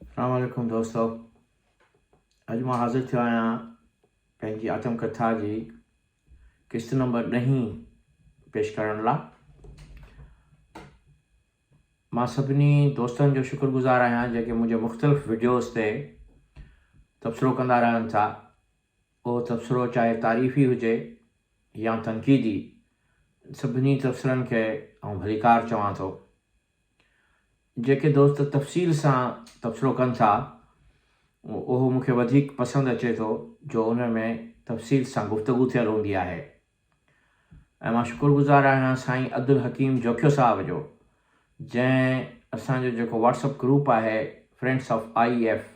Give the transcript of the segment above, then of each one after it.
اسلام عليڪم دوستو اڄ مان حاضر ٿيو آهيان پنهنجي آتم ڪٿا جي قسط نمبر ڏهين پيش ڪرڻ لاء مان سڀني دوستن جو شڪر گذار آهيان جيڪي منهنجي مختلف ويڊيوز تي تبصرو ڪندا رهن ٿا اهو تبصرو چاهي تعريفي هجي يا تنقيدي سڀني تبصرن کي آئون ڀليڪار چوان ٿو جيڪي دوست تفصيل سان تبصرو ڪن ٿا اهو مون کي وڌيڪ پسند اچي ٿو جو ان ۾ تفصيل سان گفتگو ٿيل هوندي آهي ۽ مان شڪر گذار آهيان سائين عبدالحڪيم جوکيو صاحب جو جنهن اسان جو جيڪو واٽسپ گروپ آهي فرينڊس آف آئي ايف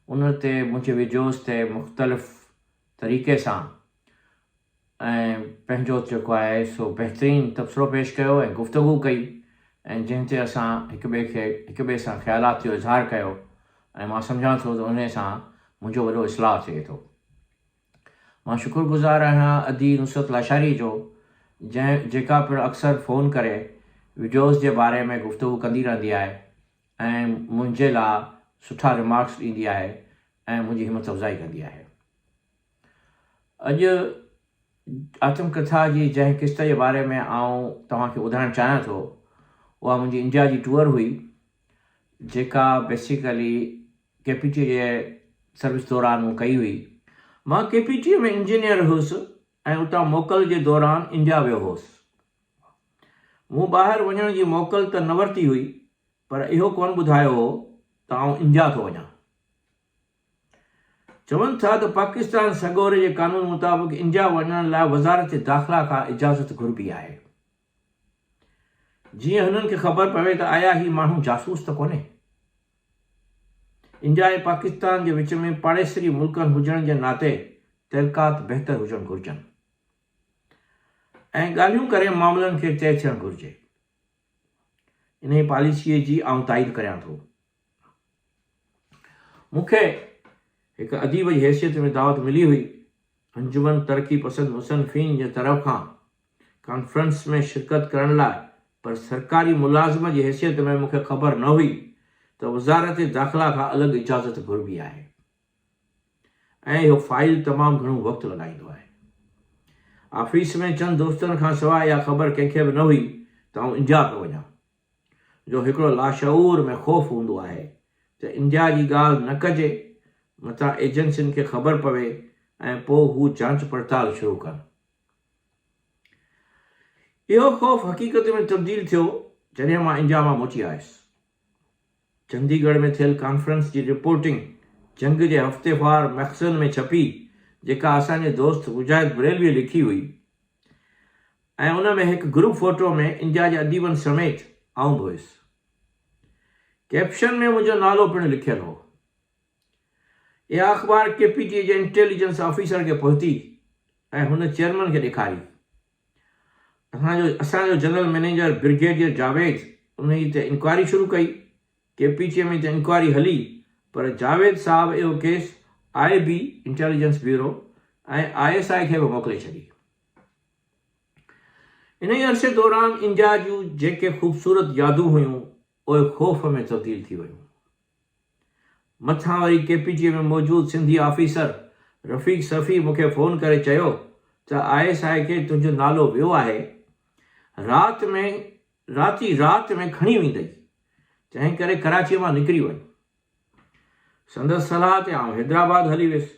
ان تي منهنجي ويڊيوز تي مختلف طريقي سان ۽ پنهنجو جيڪو آهي سو بهترين تبصرو پيش ڪيو ۽ گفتگو ڪئي ۽ جنهن تي اسان هڪ ٻئي کي هڪ ٻئي سان خيالات جو اظهار ڪيو ۽ مان سمجهان ٿو ته انهي سان منهنجو وڏو اصلاح ٿئي ٿو. مان شڪر گذار آهيان ادي نصرت لاشاري جو جنهن جيڪا پڻ اڪثر فون ڪري وڊيوز جي باري ۾ گفتگو ڪندي رهندي آهي ۽ منهنجي لا سٺا ريمارڪس ڏيندي آهي ۽ منهنجي همت افزائي ڪندي آهي. اڄ آتم ڪٿا جي جنهن قسط جي باري ۾ آئون توهان کي ٻڌائڻ چاهيان ٿو اها منهنجي انڊيا جي ٽوئر هئي جيڪا بيسيڪلي ڪي پي ٽي جي سروس دوران مون ڪئي هئي مان ڪي پي ٽي ۾ انجنيئر هوس ۽ اتان موڪل جي دوران انڊيا ويو هوس مون ٻاهر وڃڻ جي موڪل ته نه ورتي هئي پر اهو ڪونه ٻڌايو هو ته آئون انڊيا ٿو وڃان چون ٿا ته پاڪستان سڳوري جي قانون مطابق انڊيا وڃڻ لاء وزارت داخلا کان اجازت گهربي آهي جيئن هنن کي خبر پوي ته آيا هي ماڻهو جاسوس ته ڪونهي. انڊيا ۽ پاڪستان جي وچ ۾ پاڙيسري ملڪن هجڻ جي ناتي تعلقات بهتر هجڻ گهرجن ۽ ڳالهيون ڪري معاملن کي طئي ٿيڻ گهرجي. انهي پاليسي جي آئون تائيد ڪريان ٿو. مون کي هڪ اديب جي حيثيت ۾ دعوت ملي هئي، انجمن ترقي پسند مصنفين جي طرف کان ڪانفرنس ۾ شرڪت ڪرڻ لاء، پر سرڪاري ملازم جي حيثيت ۾ مون کي خبر نه هئي ته وزارت داخلا کان الڳ اجازت گهربي آهي ۽ اهو فائيل تمام گهڻو وقت لڳائيندو آهي. آفيس ۾ چند دوستن کان سواء اها خبر ڪنهن کي به نه هئي ته آئون انڊيا پيو وڃان. جو هڪڙو لاشعور ۾ خوف هوندو آهي ته انڊيا جي ڳالهه نه ڪجي، متان ايجنسين کي خبر پوي ۽ پوء هو جانچ پڙتال شروع ڪن. اهو خوف حقيقت ۾ تبديل ٿيو جڏهن مان انڊيا مان موٽي آيس. چندي ڳڙهه ۾ ٿيل ڪانفرنس جي رپورٽنگ جنگ جي هفتيوار مئخزن ۾ ڇپي جيڪا اسان جي دوست مجاهد بريلويء لکي هئي ۽ ان ۾ هڪ گروپ فوٽو ۾ انڊيا جي اديبن سميت آئون به هيس. ڪئپشن ۾ منهنجو نالو پڻ لکيل هو. اها اخبار ڪي پي ٽي جي انٽيليجنس آفيسر کي پهتي ۽ هن چيئرمن کي ڏيکاري. اسان جو اسان جو جنرل مئنيجر برگيڊيئر جاويد انهيء تي انڪوائري شروع ڪئي. ڪي پي ٽي ۾ ته انڪوائري هلي پر جاويد صاحب اهو case I B, intelligence bureau, ۽ I S I کي به موڪلي ڇڏي. انهيء عرصي دوران انڊيا جون جيڪي خوبصورت يادون هيون، اهي خوف ۾ تبديل ٿي ويون. مٿان وري ڪي پي ٽي ۾ موجود سنڌي آفيسر رفيق صفي مون کي فون ڪري چيو ته آء ايس آء کي تنهنجو نالو ويو آهي رات ۾ رات ئي رات ۾ کڻي ويندئي تنهن ڪري ڪراچيء مان نڪري وڃ سندس صلاح تي آئون حيدرآباد هلي ويس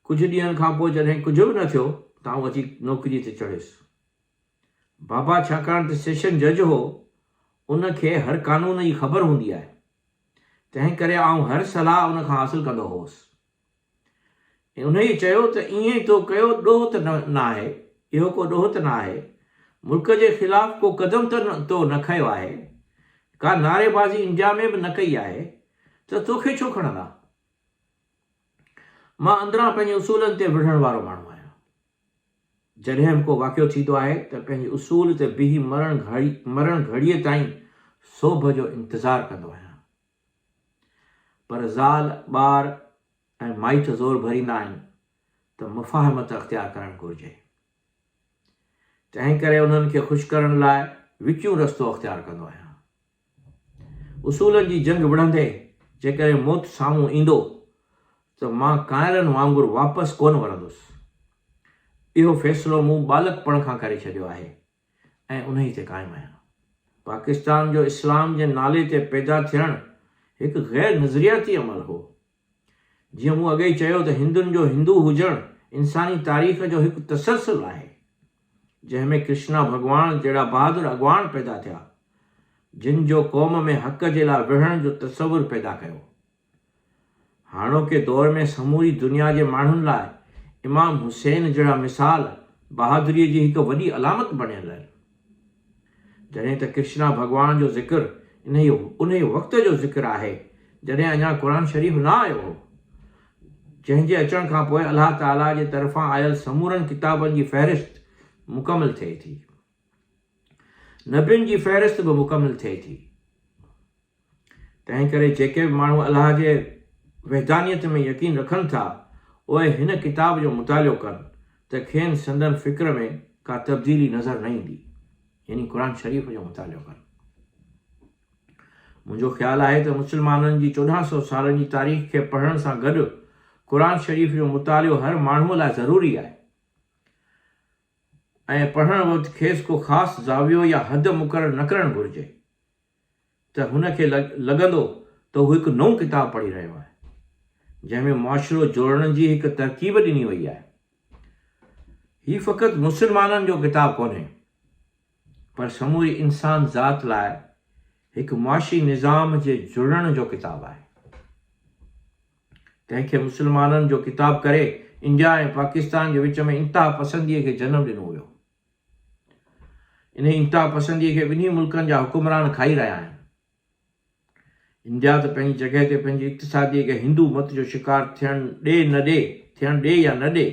ڪجهه ڏينهن کان پوء جڏهن ڪجهه به نه ٿيو ته آئون اچي نوڪريء تي چڙهيس. بابا ڇاڪاڻ ته سيشن جج هو، ان کي هر قانون جي خبر هوندي آهي، تنهنڪري آئون هر صلاح ان کان حاصل ڪندو هوس. انهيء چيو ته ايئن تو ڪيو ڏوهه ته نه آهي، اهو ڪو ڏوهه ته نه آهي، ملڪ جي خلاف ڪو قدم ته تو نه کنيو آهي، ڪا نعريبازي انڊيا ۾ به نه ڪئي آهي ته توکي ڇو کڻندا؟ مان اندران پنهنجي اصولن تي وڙهڻ وارو ماڻهو آهيان. جڏهن به ڪو واقعو ٿيندو آهي ته پنهنجي اصول تي بيهي مرڻ گهڙي مرڻ گهڙيء تائين سوڀ جو انتظار ڪندو آهيان. پر زال، ٻار ۽ مائٽ زور ڀريندا آهن ته مفاهمت اختيار ڪرڻ گهرجي. تنهن ڪري انهن کي خوش ڪرڻ لاء وچون رستو اختيار ڪندو آهيان. اصولن جي جنگ وڙهندي جيڪڏهن موت سامهون ايندو ته مان ڪانئرن وانگر واپس ڪونه ورندس. اهو فيصلو مون ٻالڪپڻ کان ڪري ڇڏيو آهي ۽ انهي تي قائم آهيان. پاڪستان جو اسلام جي نالي تي پيدا ٿيڻ هڪ غير نظرياتي عمل هو. جيئن مون اڳيئي چيو ته هندن جو هندو هجڻ انساني تاريخ جو هڪ تسلسل آهي، جنهن ۾ ڪرشنا ڀڳواڻ جهڙا بهادر اڳواڻ پيدا ٿيا، جن جو قوم ۾ حق جي لاء وڙهڻ جو تصور پيدا ڪيو. هاڻوڪي دور ۾ سموري دنيا جي ماڻهن لاء امام حسين جهڙا مثال بهادريء جي هڪ وڏي علامت بڻيل آهن. جڏهن ته ڪرشنا ڀڳوان جو ذڪر انهيء انهيء وقت جو ذڪر آهي، جڏهن اڃا قرآن شريف نه آيو هو، جنهن جي اچڻ کان پوء الله تعاليٰ جي طرفان آيل سمورن ڪتابن جي فهرست مڪمل ٿئي ٿي. نبين جي فهرست به مڪمل ٿئي ٿي. تنهن ڪري جيڪي به ماڻهو الله جي وحدانيت ۾ يقين رکن ٿا، اهي هن ڪتاب جو مطالعو ڪن ته کين سندن فڪر ۾ ڪا تبديلي نظر نه ايندي، يعني قرآن شريف جو مطالعو ڪن. منهنجو خيال آهي ته مسلمانن جي چوڏهن سئو سالن جي تاريخ کي پڙهڻ سان گڏ قرآن شريف جو مطالعو هر ماڻهوء لاء ضروري آهي ۽ پڙهڻ وقت کيس ڪو خاص زاويو يا حد مقرر نه ڪرڻ گهرجي. ته هن کي لڳندو ته هو هڪ نئون ڪتاب پڙهي رهيو آهي، جنهن ۾ معاشرو جوڙڻ جي هڪ ترڪيب ڏني وئي آهي. هي فقط مسلمانن جو ڪتاب ڪونهي، پر سموري انسان ذات لاء هڪ معاشي نظام جي جڙڻ جو ڪتاب آهي. تنهن کي مسلمانن جو ڪتاب ڪري انڊيا ۽ پاڪستان جي وچ ۾ انتها پسنديء کي جنم ڏنو ويو. انهيء انتها پسنديء کي ٻنهي ملڪن جا حڪمران کائي رهيا آهن. انڊيا ته پنهنجي جڳهه تي پنهنجي اقتصاديء کي هندو مت جو شڪار ٿيڻ ڏي نه ڏي، ٿيڻ ڏي يا نه ڏي،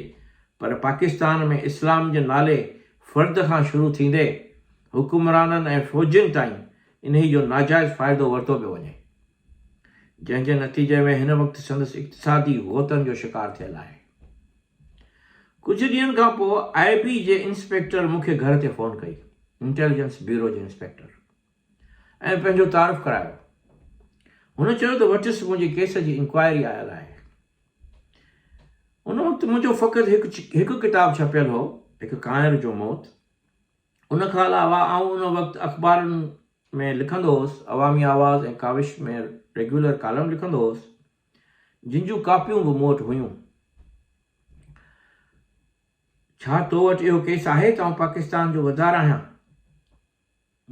پر پاڪستان ۾ اسلام جي نالي فرد کان شروع ٿيندي حڪمرانن ۽ فوجين تائين انهيء جو ناجائز فائدو ورتو پيو وڃي. جنهن جي نتيجي ۾ هن وقت سندس اقتصادي غوطن جو شڪار ٿيل آهي. ڪجهه ڏينهن کان پوء آء بي جي انسپيڪٽر مون کي گهر تي فون ڪئي، انٽيليجنس بيورو جي انسپيڪٽر، ۽ پنهنجو تعارف ڪرايو. هن چيو ته وٽس منهنجي ڪيس جي انڪوائري آيل آهي. ان وقت منهنجو فقط هڪ هڪ ڪتاب ڇپيل هو، هڪ ڪانئر جو موت. ان کان علاوه آئون ان وقت اخبارن ۾ لکندو هوس، عوامي آواز ۽ ڪاوش ۾ ريگيولر ڪالم لکندو هوس. جن جون ڪاپيون به مون وٽ هيون. ڇا تو وٽ اهو ڪيس آهي ته آئون پاڪستان جو غدار آهيان؟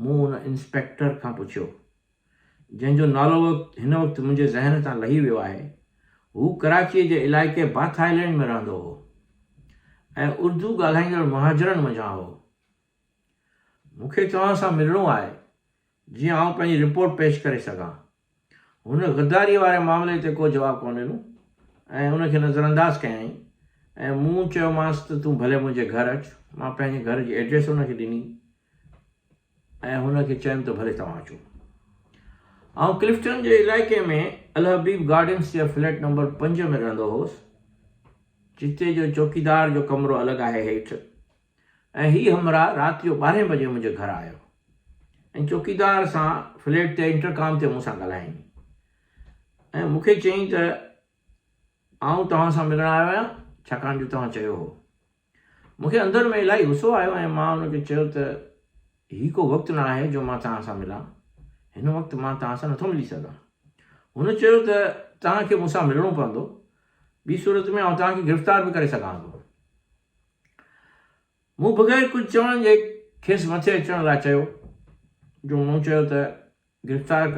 مون ان انسپيڪٽر کان پڇيو، جنهن جو نالو هن وقت منهنجي ذهن تان لهي ويو آهي. هو ڪراچيء جي علائقي باٿ آئلينڊ ۾ رهندو هو ۽ اردو ڳالهائيندڙ مهاجرن منجهان هو. مون کي توهان سان ملڻو آهي، جيئن آئون پنهنجي رپورٽ پيش ڪري سگهان. هن غداريء واري معاملي تي ڪو جواب ڪونه ڏنو ۽ ان کي نظرانداز ڪيائين ۽ مون چيومانس ته تون ڀلي منهنجي گهر اچ. مان پنهنجي گهر جي ايڊريس هن کي ڏني ۽ هن کي چيم ته ڀلي توهان اچو. آئون ڪلفٽن جي علائقي ۾ الحبيب گارڊنز جي فليٽ نمبر پنج ۾ رهندو هوس، جتي جو چوڪيدار جو ڪمرو الڳ آهي هيٺ ۽ هي همراهه رات جو ٻارهين بجي منهنجي گهر آيو ۽ چوڪيدار سان فليٽ تي انٽرڪام تي مون سان ڳالهائين ۽ مون کي چيائين ته آئون توهان سان ملڻ آيو آهيان ڇاڪاڻ جو توهان چيو هو. مون کي اندر ۾ الاهي غصو آيو ۽ مان هن کي چيو ته هي ڪو وقت نه آهي جو مان توهان سان ملان، هن وقت مان توهان سان نٿو ملي سگهان. هن چيو ته توهان کي مون سان ملڻو پوندو، ٻي صورت ۾ آئون توهان کي گرفتار به ڪري سگهان ٿو. مون بغير ڪجهه چوڻ جي کيس مٿي اچڻ لاء چيو، جو مون چيو ته گرفتار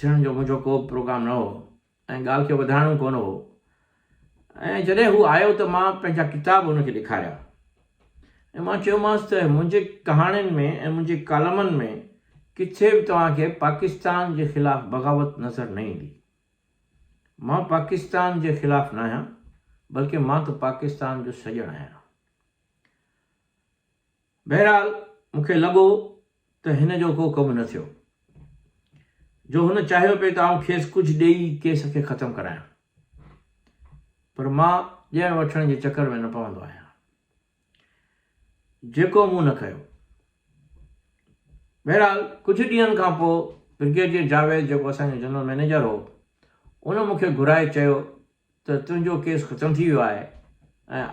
ٿيڻ جو منهنجو ڪو به پروگرام نه هو ۽ ڳالهه کي وڌائڻو ڪونه هو ۽ جڏهن هو آيو ته مان پنهنجا ڪتاب هن کي ڏيکاريا ۽ مان چيومانس ته منهنجي ڪهاڻين ۾ ۽ منهنجي ڪالمن ۾ ڪٿي به توهان کي پاڪستان جي خلاف بغاوت نظر نه ايندي. مان پاڪستان جي خلاف ناهيان بلڪه مان ته پاڪستان جو سڄڻ آهيان. بهرحال مون کي لڳو ته هن جو ڪو ڪم نه ٿيو جو هن چاهيو پئي ته آئون کيس ڪجهه ڏيئي ڪيس کي ختم ڪرايان پر مان ڏيڻ وٺڻ جي چڪر ۾ نه پوندو آهيان. جيڪو مون نه ڪيو. بهرحال ڪجهه ڏينهن کان پوء برگيڊيئر جاويد جيڪو اسان جو جنرل مئنيجر هو ان مون کي گهرائي چيو ته تنهنجو ڪيس ختم ٿي ويو آهي ۽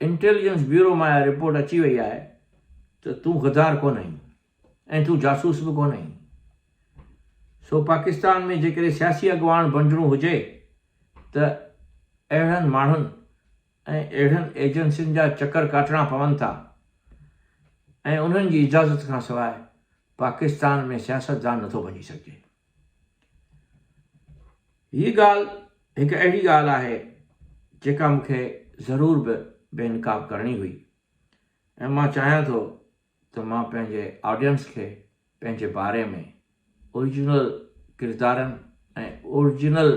انٽيليجنس بيورو مان اها رپورٽ اچي وئي آهي ته تون غدار ڪونه آهين ۽ تون جاسوس به ڪونه آهين سو پاڪستان ۾ جيڪڏهن سياسي اڳواڻ بڻجڻو هجي ته اهڙن ماڻهن ۽ اهڙن ايجنسين جا چڪر ڪاٽڻا پون ٿا ۽ انهن جي اجازت کان سواء پاڪستان ۾ سياستدان نه ٿو بنجي سگهجي. هي ڳالهه هڪ اهڙي ڳالهه آهي جيڪا مون کي ضرور به بي نقاب ڪرڻي هئي ۽ مان چاهيان ٿو ته مان پنهنجي آڊينس کي پنهنجي باري ۾ اوريجنل ڪردارن ۽ اوريجنل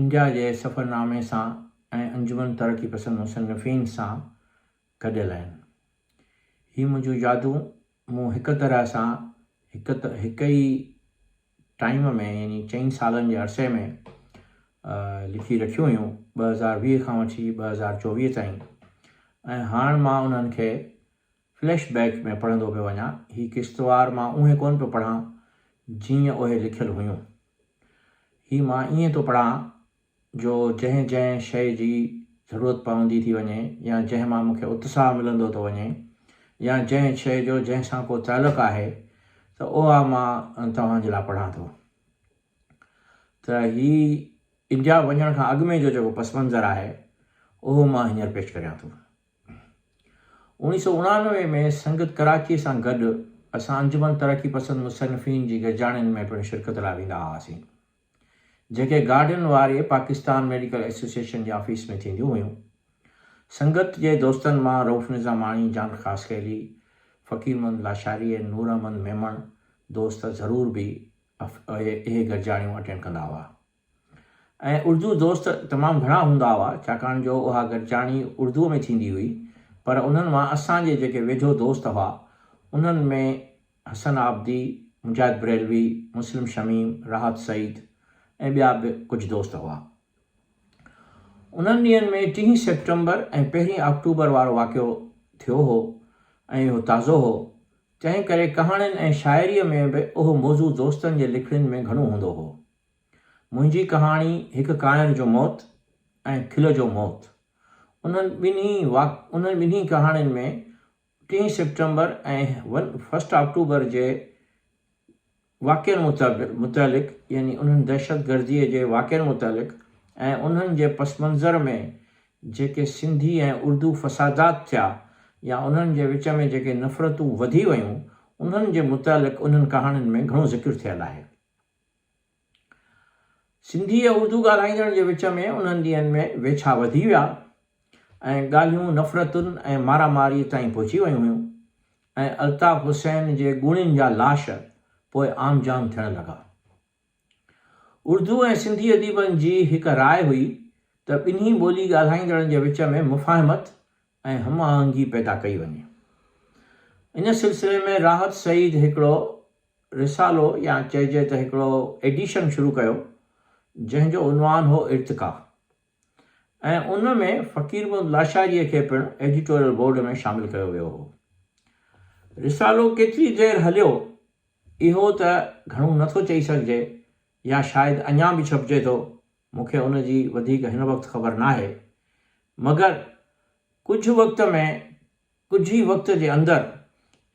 انڊيا جي سفرنامي سان ۽ انجمن ترقي پسند مصنفين سان گڏيل آهن. هي منهنجون يادون مون هڪ طرح سان هڪ هڪ ئي ٽائيم ۾ يعني چئن سالن جي عرصي ۾ لکي رکيون هيون ٻه هزار ويهه کان وٺي ٻه هزار چوويهه تائين ۽ هاڻ مان انهن کي فليش بيڪ ۾ پڙهندو پيو وڃان، هي قسطوار مان اونهي ڪونه پيو پڙهان جيئن اهي لکيل هيون. هي مان ائين ٿو پڙهان جو جنهن جنهن شيء جي ضرورت پوندي ٿي وڃي يا جنهن مان مونکي اتساهه ملندو ٿو وڃي يا جنهن شيء جو جنهن سان ڪو تعلق آهي ته اها مان توهان جي لاء پڙهان ٿو. ته هي انڊيا وڃڻ کان اڳ ۾ جو جيڪو پس منظر آهي اهو مان هينئر پيش ڪريان ٿو. اوڻيهه سؤ اڻانوي ۾ سنگت ڪراچيء سان گڏ اسان انجمن ترقي پسند مصنفين جي گڏجاڻين ۾ پڻ شرڪت لاء ويندا هئاسين، جيڪي گارڊن واري پاڪستان ميڊيڪل ايسوسيئيشن جي آفيس ۾ ٿينديون هيون. سنگت جي دوستن مان رئوف نظاماڻي، جان خاصخيلي، فقير محمد لاشاري ۽ نور احمد ميمڻ دوست ضرور به اهي گڏجاڻيون اٽينڊ ڪندا هئا. ۽ اردو دوست تمام گهڻا هوندا هئا، ڇاڪاڻ جو اها گڏجاڻي اردوء ۾ ٿيندي هئي، پر انهن مان اسان جي جيڪي ويجهو دوست هئا، انهن ۾ حسن عابدي، مجاهد بريلوي، مسلم شميم، راحت سعيد ۽ ٻيا به ڪجهه دوست هئا. انهن ڏينهن ۾ ٽيهين سيپٽمبر ۽ پهرين آڪٽوبر وارو واقعو ٿيو هو ۽ اهو تازو هو، تنهن ڪري ڪهاڻين ۽ شاعريء ۾ به اهو موضوع دوستن جي لکڻين ۾ گهڻو هوندو هو. منهنجي ڪهاڻي هڪ ڪائر جو موت ۽ کل جو موت. انهن ٻنهي واق انهن ٻنهي ڪهاڻين ۾ ٽين سيپٽمبر ۽ فرسٽ آڪٽوبر جي واقعن متعلق متعلق يعني انهن دهشتگردي جي واقعن متعلق ۽ انهن جي پس منظر ۾ جيڪي سنڌي ۽ اردو فسادات ٿيا يا انهن جي وچ ۾ جيڪي نفرتون وڌي ويون انهن جي متعلق انهن ڪهاڻين ۾ گهڻو ذڪر ٿيل آهي. سنڌي ۽ اردو ڳالهائيندڙن جي وچ ۾ انهن ڏينهن ۾ ويڇا وڌي ويا ۽ ڳالهيون نفرتن ۽ مارا ماريء تائين پهچي ويون هيون ۽ الطاف حسين جي ڳوڻين جا لاش پوء عام جام ٿيڻ لڳا. اردو ۽ سنڌي اديبن جي هڪ راء هئي ته ٻنهي ٻولي ڳالهائيندڙن جي وچ ۾ مفاهمت ۽ هم آهنگي پيدا ڪئي وڃي. ان سلسلي ۾ راحت سعيد هڪڙو رسالو يا چئجي ته هڪڙو ايڊيشن شروع ڪيو، جنهن جو عنوان هو ارتقا ۽ ان ۾ فقير محمد لاشاريء کي پڻ ايڊيٽوريل بورڊ ۾ شامل ڪيو ويو هو. رسالو ڪيتري دير هليو، اهو ته گهڻو نه ٿو چئي سگهجي يا شايد اڃا به ڇپجي ٿو، مون کي ان جي وڌيڪ هن وقت خبر ناهي، مگر ڪجهه وقت ۾ ڪجهه ئي وقت جي اندر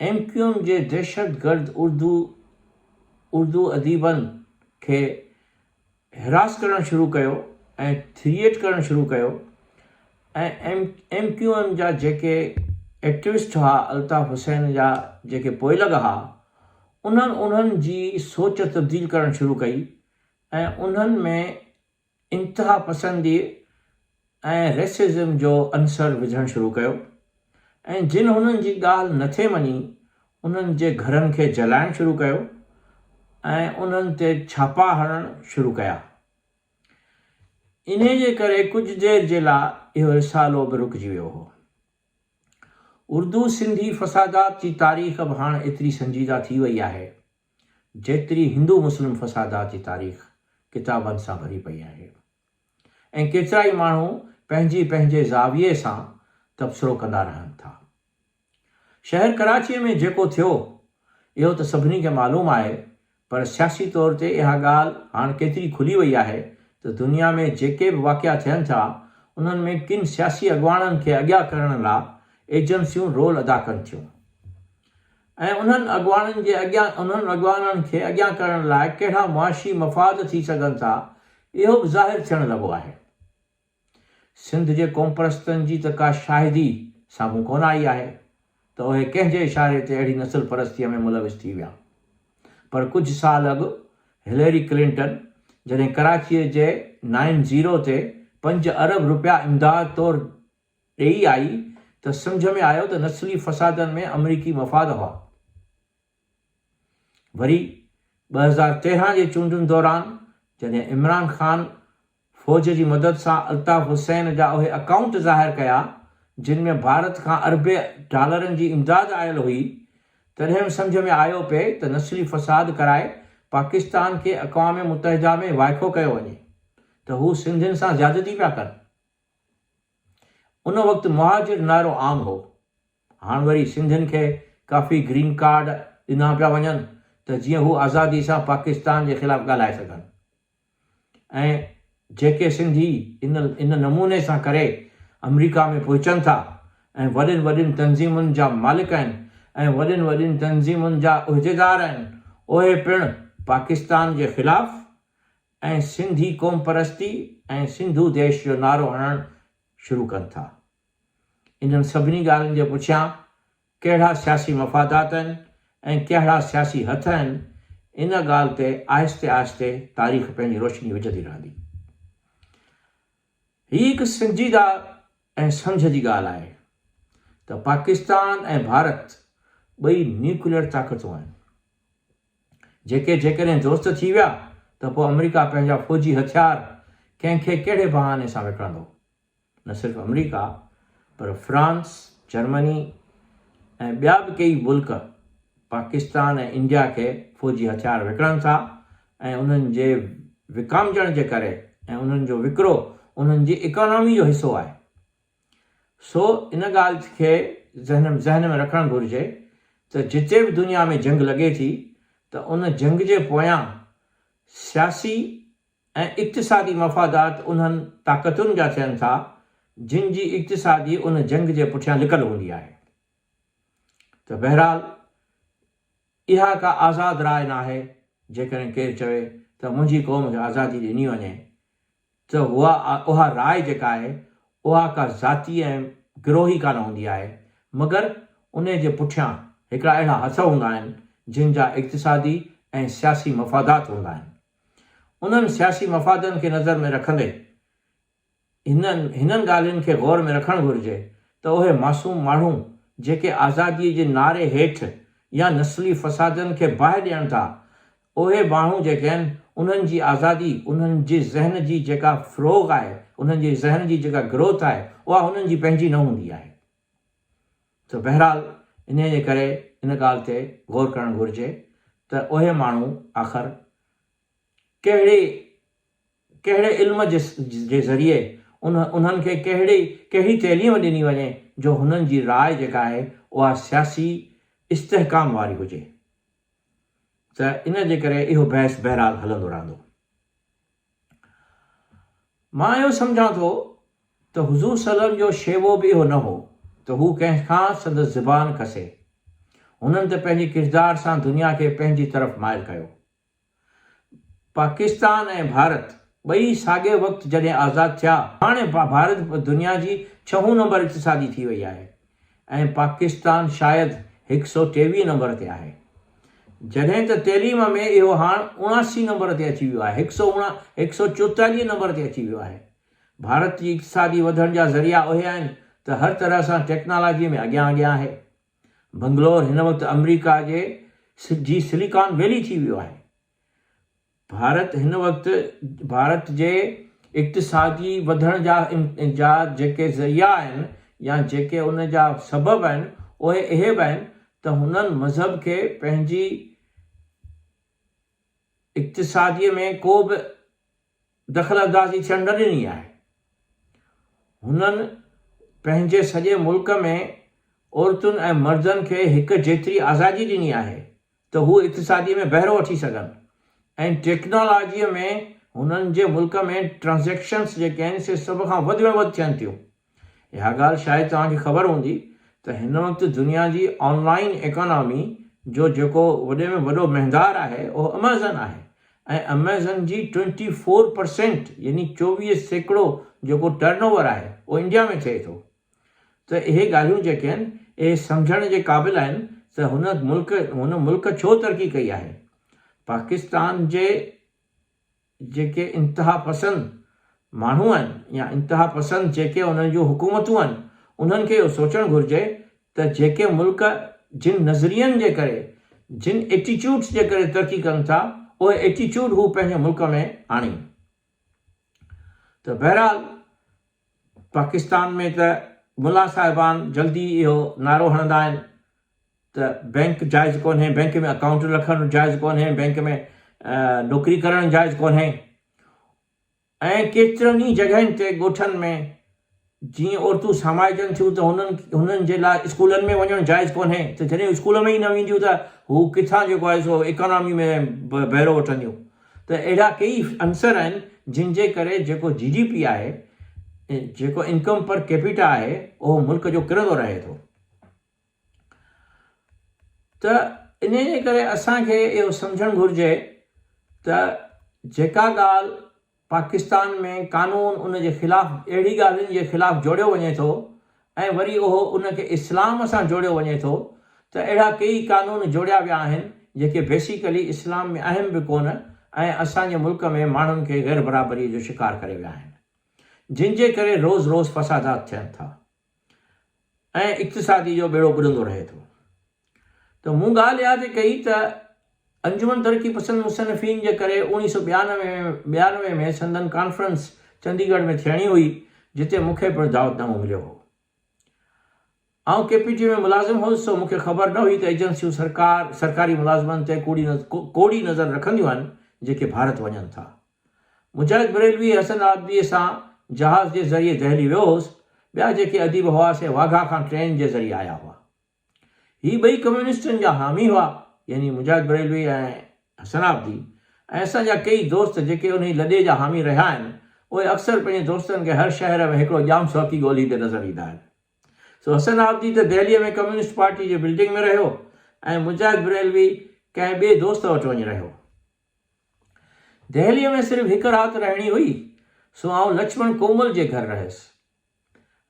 ايم ڪيو ايم جي دهشتگرد اردو اردو اديبن کي حراس ڪرڻ شروع ڪيو ۽ ٿريٽ ڪرڻ شروع ڪيو ۽ ايم ڪيو ايم جا جيڪي ايڪٽوسٽ هئا الطاف حسين جا جيڪي پوئلڳ هئا انهن انهن جي سوچ تبديل ڪرڻ شروع ڪئي ۽ انهن ۾ انتهاپسندي ۽ ريسزم جو عنصر وجهڻ شروع ڪيو ۽ جن هنن جي ڳالهه نٿي مڃي انهن جي گهرن کي جلائڻ شروع ڪيو ۽ انهن تي ڇاپا هڻڻ شروع ڪيا. انهي جي ڪري ڪجهه دير جي لاء اهو رسالو به رڪجي ويو هو. اردو سنڌي فسادات جي تاريخ به هاڻ ايتري سنجيده ٿي وئي آهي جيتري هندو مسلم فسادات جي تاريخ ڪتابن سان ڀري پئي آهي ۽ ڪيترائي ماڻهو پنهنجي پنهنجي زاويي سان تبصرو ڪندا رهن ٿا. شهر ڪراچيء ۾ جيڪو ٿيو اهو ته سڀني کي معلوم آهي پر سياسي طور تي اها ڳالهه هاڻ ڪيتري کلي وئي آهي ته دنيا ۾ جيڪي به واقعا ٿين ٿا انهن ۾ ڪن سياسي اڳواڻن کي اڳيا ڪرڻ لا ايجنسيون رول ادا ڪن ٿيون ۽ انهن اڳواڻن جي اڳيان انهن اڳواڻن کي اڳيان ڪرڻ لاء ڪهڙا معاشي مفاد ٿي سگهن ٿا اهو به ظاهر ٿيڻ لڳو آهي. سنڌ جي قومپرستن جي ته ڪا شاهدي سامهون ڪونه آئي آهي ته اهي ڪنهن جي اشاري تي اهڙي نسل پرستيء ۾ ملوث ٿي ويا پر ڪجهه سال اڳ هليري ڪلنٽن جڏهن ڪراچيء جي نائن زيرو تي پنج ارب روپيا امداد طور ڏيئي آئي ته سمجهه ۾ آيو ته نسلي فسادن ۾ آمريڪي مفاد هئا. وري ٻه هزار تيرهن جي چونڊن دوران جڏهن عمران خان فوج جي مدد سان الطاف حسين جا اهي اڪائونٽ ظاهر ڪيا جن ۾ ڀارت کان اربين ڊالرن جي امداد آيل هئي تڏهن سمجهه ۾ آيو پئي ته نسلي فساد ڪرائي پاڪستان کي اقوام متحده ۾ وائکو ڪيو وڃي ته هو سنڌين سان زيادتي پيا ڪن. ان وقت مهاجر نعرو عام هو. هاڻ وري سنڌين کي ڪافي گرين ڪارڊ ڏنا پيا وڃن ته جيئن هو آزادي سان پاڪستان جي خلاف ڳالهائي سگهن ۽ جيڪي سنڌي ان ان نموني سان ڪري آمريڪا ۾ پهچن ٿا ۽ وڏين وڏين تنظيمن جا مالڪ آهن ۽ وڏين وڏين تنظيمن جا عهديدار آهن اهي پڻ پاڪستان جي خلاف ۽ سنڌي قومپرستي ۽ سنڌو ديش جو نعرو هڻڻ شروع ڪن ٿا. انهن سڀني ڳالهين جي پٺيان ڪهڙا سياسي مفادات آهن ۽ ڪهڙا سياسي هٿ آهن، ان ڳالهه تي آهستي آهستي تاريخ پنهنجي روشني وجهندي رهندي. هي هڪ سنجيده ۽ سمجهه جي ڳالهه آهي ته پاڪستان ۽ ڀارت ٻئي نيوڪليئر طاقتون آهن جيڪي جيڪڏهن دوست ٿي ويا ته پوء آمريڪا پنهنجا فوجي هٿيار ڪنهن کي ڪهڙي بهاني سان وڪڻندو؟ نه صرف آمريڪا پر فرانس، جرمني ۽ ٻيا به ڪيئي ملڪ پاڪستان ۽ انڊيا کي فوجي هٿيار وڪڻن ٿا ۽ انهن جي وڪامجڻ جي ڪري ۽ انهن جو وڪرو انهن جي اڪانامي جو حصو آهي. سو ان ڳالهه کي ذهن ۾ رکڻ گهرجي ته جتي به دنيا ۾ جنگ لڳي ٿي ته ان جنگ جي پويان سياسي ۽ اقتصادي مفادات انهن طاقتن جا ٿين ٿا جن جي اقتصادي ان جنگ جي پٺيان لڪل هوندي آهي ته بهرحال اها ڪا آزاد راء ناهي، جيڪڏهن ڪير چوي ته منهنجي قوم کي آزادي ڏني وڃي ته اها راء جيڪا آهي اها ڪا ذاتي ۽ گروهي ڪانه هوندي آهي مگر انهي جي پٺيان هڪڙا اهڙا هٿ هوندا آهن جن جا اقتصادي ۽ سياسي مفادات هوندا آهن انهن سياسي مفادن کي نظر ۾ رکندي هنن هنن ڳالهين کي غور ۾ رکڻ گهرجي ته اهي معصوم ماڻهو جيڪي آزاديء جي نعري هيٺ يا نسلي فسادن کي باهه ڏين ٿا اهي ماڻهو جيڪي آهن انهن جي آزادي انهن جي ذهن جي جيڪا فروغ آهي انهن جي ذهن جي جيڪا گروٿ آهي اها هنن جي پنهنجي نه هوندي آهي ته بهرحال انهيء جي ڪري ان ڳالهه تي غور ڪرڻ گهرجي ته اهي ماڻهو آخر ڪهڙي ڪهڙي علم جي ذريعي انهن کي ڪهڙي تعليم ڏني وڃي جو هنن جي راء جيڪا آهي اها سياسي استحڪام واري هجي ته ان جي ڪري اهو بحث بهرحال هلندو رهندو. مان اهو سمجهان ٿو ته حضور صلعم جو شيوو به اهو نه هو ته هو ڪنهن کان سندس زبان کسي. هنن ته پنهنجي ڪردار سان دنيا کي پنهنجي طرف مائل ڪيو. پاڪستان ۽ ڀارت ٻئي ساڳئي وقت جڏهن آزاد ٿيا، هاڻي ڀارت دنيا جي ڇهون نمبر اقتصادي ٿي وئي آهي ۽ پاڪستان شايد هڪ سئو ٽيويهه نمبر تي آهي. جڏهن ته تعليم ۾ اهو هاڻ اڻاسي نمبر تي اچي ويو آهي، هڪ سئو هڪ سئو چوتاليهه نمبر تي اچي ويو آهي. ڀارت جي اقتصادي وڌڻ جا ذريعا اهي آهن ته هر طرح سان ٽيڪنالاجي ۾ اڳيان اڳيان آهي. بنگلور هن وقت آمريڪا جي سجي سليڪان ويلي ٿي ويو آهي. ڀارت هن وقت ڀارت جي اقتصادي وڌڻ جا جا جيڪي ذريعا آهن يا جيڪي ان جا سبب آهن اهي اهي به آهن ته هنن مذهب کي پنهنجي اقتصادي ۾ ڪو به دخلاندازي ٿيڻ نه ڏني آهي. هنن پنهنجي سڄي ملڪ ۾ عورتن ۽ مردن کي هڪ جيتري آزادي ڏني آهي ته هو اقتصادي ۾ بهرو وٺي سگهن ۽ ٽيڪنالاجي ۾ هنن جي ملڪ ۾ ٽرانزيڪشنز جيڪي آهن سي سڀ کان وڌ ۾ وڌ ٿين ٿيون. اها ڳالهه شايد توهان کي خبر هوندي ته هن وقت دنيا جي آن لائين ايڪانامي جو جيڪو وڏي ۾ وڏو مهندار آهي اهو اميزن آهي ۽ اميزن جي ٽوئنٽي فور پرسينٽ يعني چوويهه سيڪڙو جيڪو ٽرن اوور آهي اهو انڊيا ۾ ٿئي ٿو ته اهي ڳالهيون جيڪي آهن اهي سمجهڻ جي قابل آهن ته هن ملڪ هن ملڪ ڇو ترقي ڪئي آهي پاڪستان جي جيڪي انتها پسند ماڻهو آهن يا انتها پسند جيڪي انهن جون حڪومتون آهن انهن کي اهو سوچڻ گهرجي ته جيڪي ملڪ جن نظرين جي ڪري جن ايٽيچوڊس جي ڪري ترقي ڪن ٿا اهي ايٽيچوڊ هو پنهنجي ملڪ ۾ آڻين ته بهرحال پاڪستان ۾ ته ملا صاحبان جلدي اهو نعرو هڻندا آهن ته بئنڪ جائز ڪونهي، بئنڪ ۾ اڪائونٽ رکڻ جائز ڪونهي، بئنڪ ۾ نوڪري ڪرڻ جائز ڪونهي ۽ ڪيترن ئي جڳهين تي ڳوٺن ۾ جيئن عورتون سامائجن ٿيون ته هنن جي لاء اسڪولن ۾ وڃڻ جائز ڪونهي ته جڏهن اسڪول ۾ ئي نه وينديون ته هو ڪٿان جيڪو آهي سو اڪانامي ۾ بهرو وٺنديون ته اهڙا ڪيئي عنصر آهن جن جي ڪري جيڪو جي ڊي پي آهي جيڪو انڪم پر ڪيپيٽا آهي اهو ملڪ جو ڪرندو رهي ٿو ته انهي جي ڪري اسان کي اهو سمجهڻ گهرجي ته جيڪا ڳالهه پاڪستان ۾ قانون ان جي خلاف اهڙي ڳالهين جي خلاف جوڙيو وڃي ٿو ۽ وري اهو ان کي اسلام سان جوڙيو وڃي ٿو ته اهڙا ڪيئي قانون جوڙيا ويا آهن جيڪي بيسيڪلي اسلام ۾ اهم به ڪونه ۽ اسان جي ملڪ ۾ ماڻهن کي غيربرابري جو شڪار ڪري ويا آهن جن جي ڪري روز روز فسادات ٿين ٿا ۽ اقتصادي جو ٻيڙو ٻڏندو رهي ٿو. ته مون ڳالهه اها ٿي ڪئي ته انجمن ترقي پسند مصنفين جي ڪري اوڻيهه سؤ ٻيانوي ۾ سندن ڪانفرنس چندي ڳڙهه ۾ ٿيڻي هئي جتي مون کي پڻ دعوت نامو مليو هو. آئون ڪي پي ٽي ۾ ملازم هوس سو مون کي خبر نه هئي ته ايجنسيون سرڪاري ملازمن تي ڪوڙي نظر رکنديون آهن جيڪي ڀارت وڃن ٿا. مجاهد بريلوي ۽ حسن عابديء سان جهاز جي ذريعي دهلي ويو هوس، ٻيا جيڪي اديب هئا سي واگها کان ٽرين جي ذريعي آيا هئا. هي ٻئي ڪميونسٽن جا حامي هئا، يعني مجاهد بريلوي ۽ حسن عابدي ۽ اسان جا ڪيئي دوست جيڪي انهي لڏي جا حامي رهيا آهن، اهي اڪثر پنهنجي دوستن کي هر شهر ۾ هڪڙو ڄام سوڪي ڳولهيندي نظر ايندا آهن. سو حسن عابدي ته دهليء ۾ ڪميونسٽ پارٽي جي بلڊنگ ۾ رهيو ۽ مجاهد بريلوي ڪنهن ٻئي دوست وٽ وڃي رهيو. دهليء ۾ صرف هڪ رات رهڻي هئي، سو آئون لڇمڻ ڪومل جي گهر رهيس.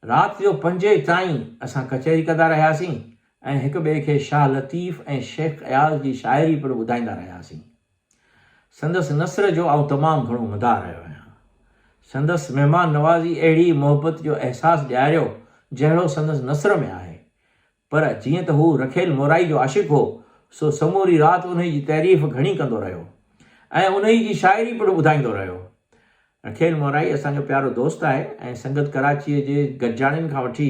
رات جو پنجين تائين اسان ڪچهري ڪندا رهياسين ۽ هڪ ٻئي کي شاهه لطيف ۽ شيخ اياز جي شاعري پڻ ٻڌائيندا رهياسين. سندس نثر جو آئون تمام گهڻو مداح رهيو آهيان. سندس مهمان نوازي اهڙي محبت جو احساس ڏياريو جهڙو سندس نثر ۾ آهي. پر جيئن ته هو رکيل مورائي جو عاشق هو، سو سموري رات انهيء جي تعريف گهڻي ڪندو رهيو ۽ انهيء جي شاعري پڻ ٻڌائيندو رهيو. رکيل مورائي اسان جو پيارو دوست آهي ۽ سنگت ڪراچيء جي گڏجاڻين کان وٺي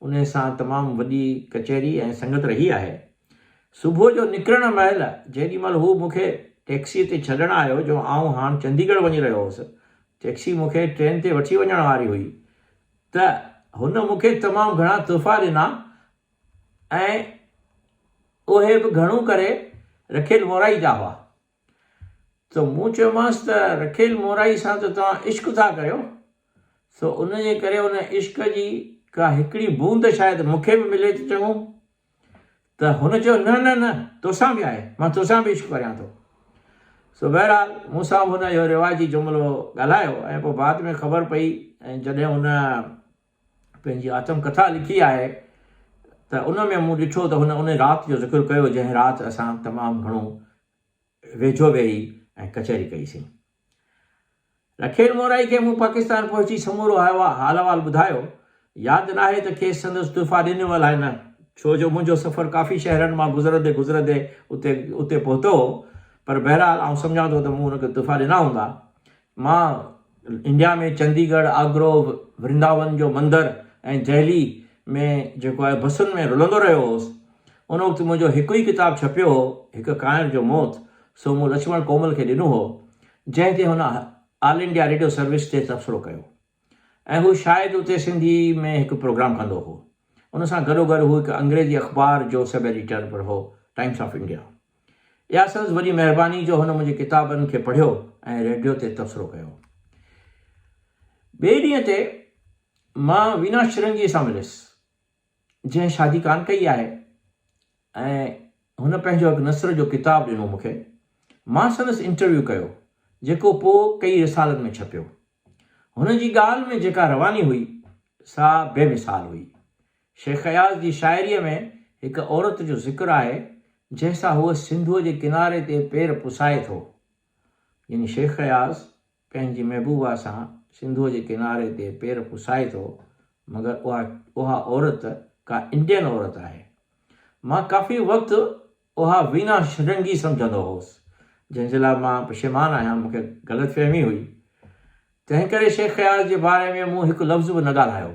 انهيء سان تمام وڏي ڪچهري ۽ سنگت رهي آهي. صبح جو نڪرڻ مهل جيڏي مهل هو مون کي ٽئڪسيء تي ڇڏڻ آيو جو آئون هاڻ چنديگڙ وڃي رهيو هوس. ٽئڪسي مون کي ٽرين تي وٺي وڃڻ واري هئي. ته هن مون کي تمام گهڻا تحفا ڏنا ۽ اهي به گهڻو ڪري رکيل مورائي جا هئا. سو مون چيومانس ته رکيل مورائي سان ته توهان عشق ٿا ڪريو، سو ان جي ڪري ان عشق جي ڪا هڪڙي بوند شايد مون کي به ملي ته چڱو. ته هن چيو، نه نه نه، توسان به آهي، مان توسان به عشق ڪريان ٿو. سو بهرحال مون سان به هن اهو رواجي جملو ڳالهايو ۽ پوء بعد ۾ خبر پئي ۽ جڏهن هن پنهنجي آتم ڪٿا لکي آهي ته ان ۾ مون ڏٺو ته هن انهي رات جو ذڪر ڪيو جنهن رات اسان تمام گهڻو ويجهو ويهي ۽ ڪچهري ڪئي سين. رکيل مورائي کي مون پاڪستان پهچي سمورو حال احوال ٻڌايو. ياد ناهي ته کيس سندس تحفا ڏنيو الائي نه، ڇو جو منهنجو سفر ڪافي شهرن مان گذرندي گذرندي اتي اتي پهتو هو. پر بهرحال آئون سمجهان ٿو ته مون هن کي تحفا ڏنا هوندا. مان انڊيا ۾ چندي ڳڙهه، آگرو، ورنداون جو مندر ۽ دهلي ۾ جيڪو آهي بسن ۾ رلندو رهيو هوس. ان وقت منهنجو هڪ ئي ڪتاب ڇپيو هو، هڪ ڪانئر جو موت. سو مون لڇمڻ ڪومل کي ڏنو هو، جنهن تي هن آل انڊيا ريڊيو سروس تي تبصرو ڪيو ۽ هو شايد اتي سنڌي ۾ هڪ پروگرام ڪندو هو. ان سان گڏوگڏ هو هڪ انگريزي اخبار جو سب ايڊيٽر پڻ هو، ٽائمس آف انڊيا. اها سندس وڏي مهرباني جو هن منهنجي ڪتابن کي پڙهيو ۽ ريڊيو تي تبصرو ڪيو. ٻئي ڏينهن تي مان وينا شرنگيء سان مليس. جنهن شادي ڪانه ڪئي آهي ۽ هن پنهنجو هڪ نثر جو ڪتاب ڏنو مون کي. مان سندس انٽرويو ڪيو، جيڪو پوء ڪيئي رسالن ۾ ڇپيو. هن جي ڳالهه ۾ جيڪا رواني هئي، سا بي مثال هئي. شيخ اياز جي شاعريء ۾ هڪ عورت جو ذڪر آهي، جنهن سان هو سنڌوء جي ڪناري تي پير پسائي ٿو. يعني شيخ اياز پنهنجي محبوبا سان سنڌوء جي ڪناري تي پير پسائي ٿو مگر اها اها عورت ڪا انڊين عورت آهي. مان ڪافي وقت اها وينا شرنگي سمجهندو هوس جنهن جي لاء مان پشيمان آهيان مون کي غلط فهمي هئي تنهن ڪري شيخ اياز جي باري ۾ مون هڪ لفظ به نه ڳالهايو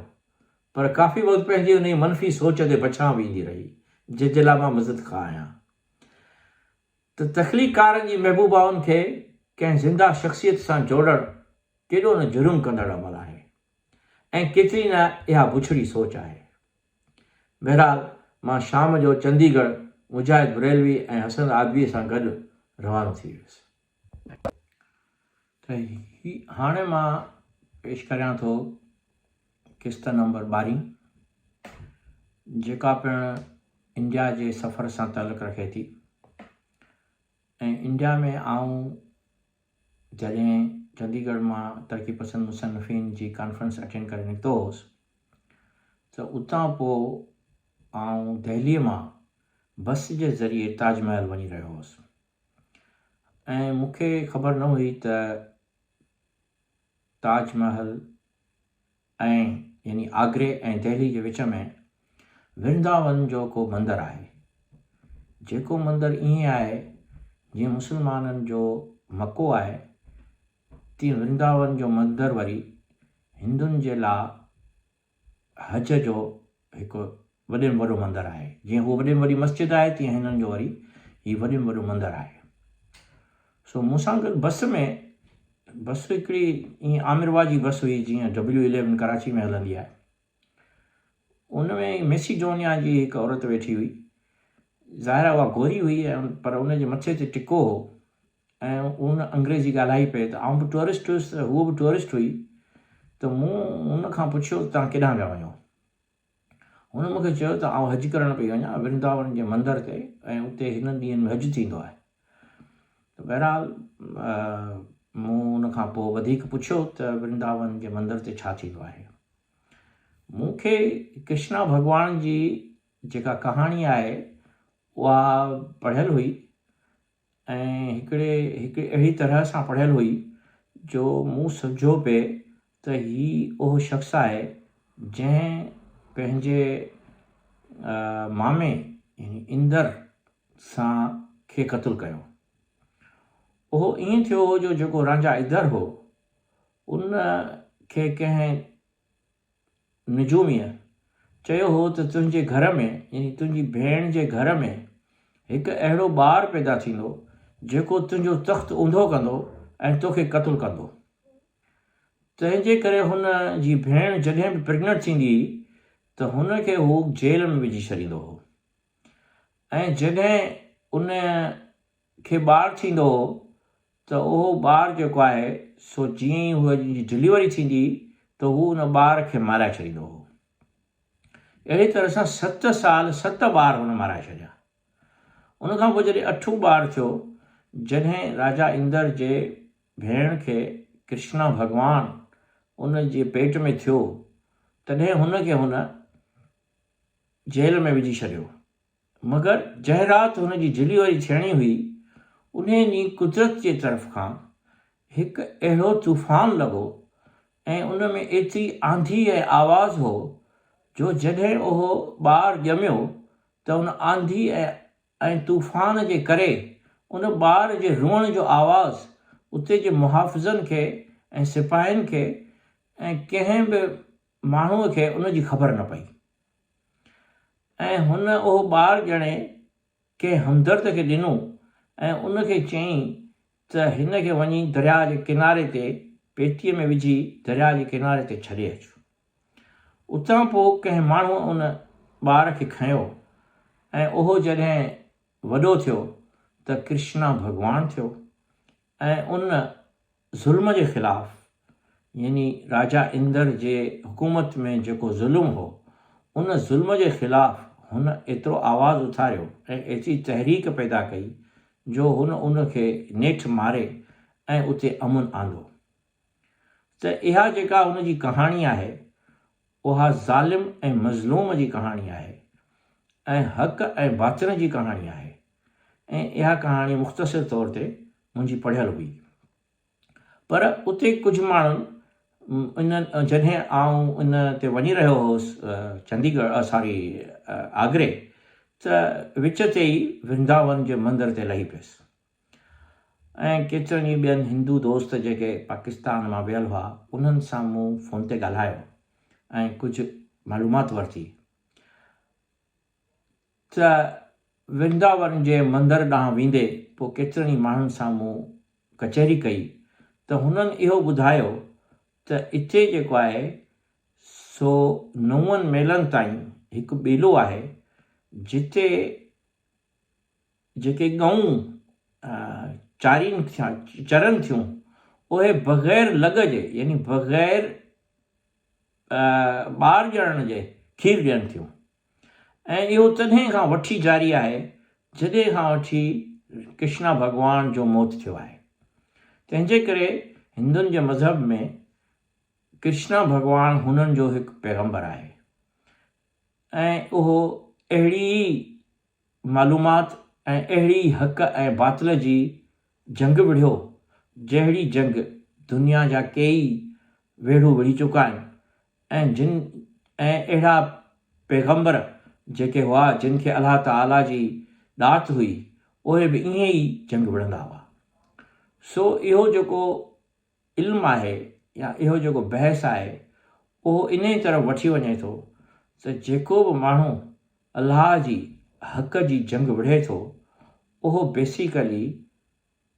پر ڪافي وقت پنهنجي انهي منفي سوچ تي بڇان ويندي رهي جنهن جي لاء مان مزدخواهه آهيان. ته تخليقڪارن جي محبوبائن کي ڪنهن زنده شخصيت سان جوڙڻ ڪيڏو نه جرم ڪندڙ عمل آهي ۽ ڪيتري نه اها بڇڙي سوچ آهي. بهرحال مان شام جو چندي ڳڙهه مجاهد بريلوي ۽ حسن آدويء سان گڏ روانو ٿي ويس. ته هي هاڻي مان پيش ڪريان ٿو قسط نمبر ٻارهين جيڪا پڻ انڊيا جي سفر سان تعلق رکي ٿي ۽ انڊيا ۾ آئون جڏهن چندي ڳڙھ مان ترقي پسند مصنفين جي ڪانفرنس اٽينڊ ڪري نڪتو هوس ته اتان پوء آئون دهلي مان بس جي ذريعي تاج محل وڃي رهيو هوس ۽ مون کي خبر نه هئي ته تاج محل ۽ يعني آگري ۽ دهلي جي وچ ۾ ورنداون جو ڪو مندر آهي جيڪو مندر ائين آهي جيئن مسلمانن جو مڪو آهي تيئن ورنداون جو مندر وري هندن جي لا هچ جو هڪ وڏي ۾ وڏو مندر آهي. جيئن هوء وڏي ۾ وڏي مسجد آهي، تيئن هنن جو وري هي وڏي ۾ وڏو مندر آهي. سو مون سان گڏ بس ۾ بس هڪڙي ائين عامر واء جي بس هئي، جيئن ڊبليو اليون ڪراچي ۾ هلندي آهي. ان ۾ ميسيڊونيا جي هڪ عورت ويٺي هئي. ظاهر آهي اها گوري هئي پر ان جي مٿي تي ٽڪو هو، ۽ هو نه انگريزي ڳالهائي پئي ته آئون به ٽوئرسٽ هيس ته هوء به ٽوئرسٽ هئي ته مون هن کان پڇيو ته توهان ڪيڏانهن پيا وڃو؟ هن مون کي چيو ته آئون حج ڪرڻ پئي وڃان ورنداون جي مندر تي ۽ اتي هنن ڏينهن ۾ حج ٿيندو آهي ته بهرحال مون ان کان پوء وڌيڪ پڇيو ته ورنداون جي مندر تي ڇا ٿيندو آهي مون کي ڪرشنا ڀڳوان جي جيڪا ڪهاڻي آهي اها پڙهيل هئي ۽ هڪڙي هڪڙي اهڙي طرح سان پڙهيل هئي جو مون سمجهيو پئي ته هي اهو شخص آهي جنهن پنهنجي مامي يعني اندر سان کي قتل ڪيو. اهو ائين ٿيو هو جو جيڪو رانجهه اندر هو ان کي ڪنهن نجوميء چيو هو ته تنهنجي گهر ۾ يعني تنهنجي ڀيڻ جي گهر ۾ هڪ اهڙو ٻار پيدا ٿيندو جيڪو تنهنجو تخت اونڌو ڪندو ۽ توکي قتل ڪندو. تنهنجي ڪري هن جي ڀيڻ جڏهن به پريگننٽ ٿيندي هئي ته هن کي هو جيل ۾ وجهي ڇڏيندو هو ۽ جڏهن ان کي ٻار ٿيندو هو ته اهو ٻار جيڪو آهي سو جيئن ئي هوء جي ڊليوري ٿيندي هئي ته هو ان ٻار کي مارائي ڇڏيندو هو. اهڙي طرح سان ست سال ست ٻار هن مارائي ڇڏيا. ان کان پوء جڏهن اٺون ٻار ٿيو، جڏهن راجا اندر جي ڀيڻ کي ڪرشنا ڀڳوان ان جي پيٽ ۾ ٿيو، تڏهن هن کي هن جيل ۾ وجهي ڇڏيو. مگر جنهن رات هن جي جھلي واري ڇيڻي هئي، انهيء ڏينهن قدرت جي طرف کان هڪ اهڙو طوفان لڳو ۽ ان ۾ ايتري آنڌي ۽ آواز هو جو جڏهن اهو ٻار ڄميو ته ان آنڌي ۽ طوفان جي ڪري ان ٻار جي روئڻ جو آواز اتي جي محافظن کي ۽ سپاهين کي ۽ ڪنهن به ماڻهوء کي ان جي خبر نه پئي. ۽ هن اهو ٻار ڄڻي ڪنهن همدرد کي ڏنو ۽ ان کي چيائين ته هن کي وڃي درياء جي ڪناري تي پيتيء ۾ وجهي درياء جي ڪناري تي ڇڏي اچ. اتان پوء ڪنهن ماڻهوء ان ٻار کي کنيو ۽ اهو جڏهن وڏو ٿيو ته ڪرشنا ڀڳوان ٿيو ۽ ان ظلم جي خلاف يعني راجا اندر جي حڪومت ۾ جيڪو ظلم هو ان ظلم جي خلاف هن ايترو آواز اٿاريو ۽ ايتري تحريڪ پيدا ڪئي جو هن ان کي نيٺ ماري ۽ اتي امن آندو ته اها جيڪا هن جي ڪهاڻي آهي اها ظالم ۽ مظلوم جي ڪهاڻي آهي ۽ حق ۽ باطل جي ڪهاڻي آهي. ۽ اها ڪهاڻي مختصر طور تي منهنجي پڙهيل هئي. پر اتي ڪجهه ماڻهن ان جڏهن آئون ان تي وڃي رهيو هوس چنديگڙ ساري آگري ته وچ تي ئي ورنداون جي مندر تي لهي پيس ۽ ڪيترن ئي ٻين هندو دوست جيڪي پاڪستان مان ويل هئا انهن سان مون فون تي ڳالهايو ۽ ڪجهه معلومات ورتي. ته ورنداون جي مندر ڏانهن ويندي پوء ڪيترن ئي ماڻهن سان مون ڪچهري ڪئي ته هنن اهو ٻڌايو ته اتي جيڪو آهي سو نون ميلن تائين هڪ ٻيلو آهي جتي جيڪي ڳئون چارين چرن ٿيون اهي بغير لڳ جي يعني بغير ٻار ڄڻڻ جي کير ڏين ٿيون. ۽ اهو تڏهن کان وٺي جاري آهي جڏهن کان وٺي ڪرشنا ڀڳوان جو موت ٿيو آهي. تنهن جي ڪري هندن جي مذهب ۾ ڪرشنا ڀڳوان هنن جو هڪ پيغمبر آهي ۽ اهو اهڙي ئي معلومات ۽ اهڙي ئي حق ۽ باطل جي جنگ وڙهيو جهڙي جنگ دنيا جا ڪيئي ويڙهو وڙهي چڪا آهن ۽ جن ۽ اهڙا پيغمبر جيڪي هئا جن کي الله تعاليٰ جي ڏات هئي اهي به ائين ئي جنگ وڙهندا هئا. سو اهو جيڪو علم آهي يا اهو جيڪو بحث آهي اهو انهيء طرف وٺي وڃي ٿو ته جيڪو به ماڻهو الله جي حق جي جنگ وڙهي ٿو اهو بيسيڪلي